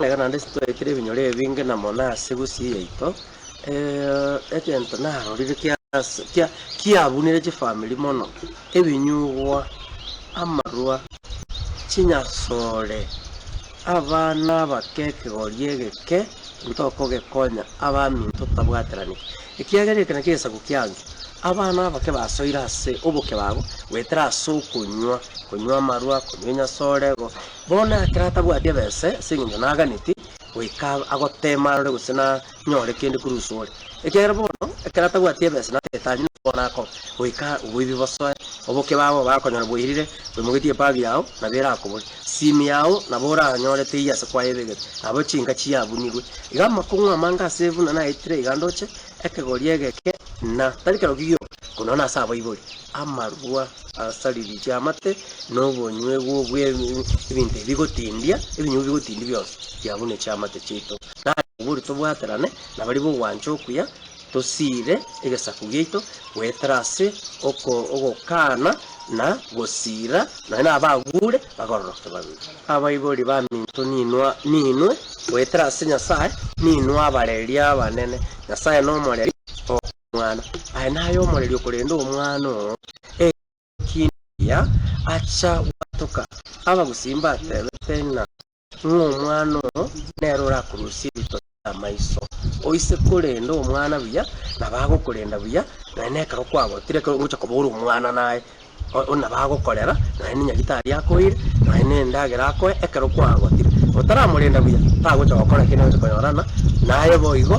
Nere naende titwaikire ebinyoro ebinge na mona ase gusii yaito, egento narorire kia kiabunire chifamiri mono, ebinyugwa, amarwa, chinyasore, abana abake ekegori egeke ntokogekonya abaminto totabwateraneti, ekiagera eke nakio egesaku kiange, abana abake basoire ase obokebago goetera ase okonywa, konywa amarwa, konywa enyasore, Bono ekero atabwati ebese ase engencho naganeti goika agoteema arore gose nanyore kende korwa uso ore, ekiagera bono ekero atabwati ebese natagete anye na bono akoba, goika oboibi bosoe, oboke babo bakonyora bwairire, boimogetie epagu yao nabo erakobore, simi yao nabo oranyore teiyo ase kwaye ebegete, nabo chinka chiabunigwe. Iga amakong'u amange ase buna naetire iga ndoche, ekegori egeke, na tari kerokio gioka, korende nase abaibori. amarwa asaririe amate, na obonywegwo bw'ebinto ebi bigotindia, ebinyugwa bigotindia bionsi biabuneche amate chiaito, na ase obwo boria tobwaterane na baria b'ogwancha okuya, tosiire egesaku giaito goetera ase ogokaana na gosiira, nonya nabaguure bakororoke babe. Abaibori baminto ninwe, ninwe goetera ase Nyasae, ninwe abareria abanene, Nyasae nomoreri oo. omwana aye naye omorerio korende omwana oo ekindi kiya acha gwatoka abagusii mbatebete ng'a omwana oo nere orakorusia ebitosi bi'amaiso oise korende omwana buya nabo agokorenda buya nonya nekero kwagotire ekero ogocha koba ore omwana naye nabo agokorera nonya nenyagitari akoire nonya nendagera akoe ekero kwagotire otaramorenda buya tagocha gokora eki nere ogocha konyorana naye boigo.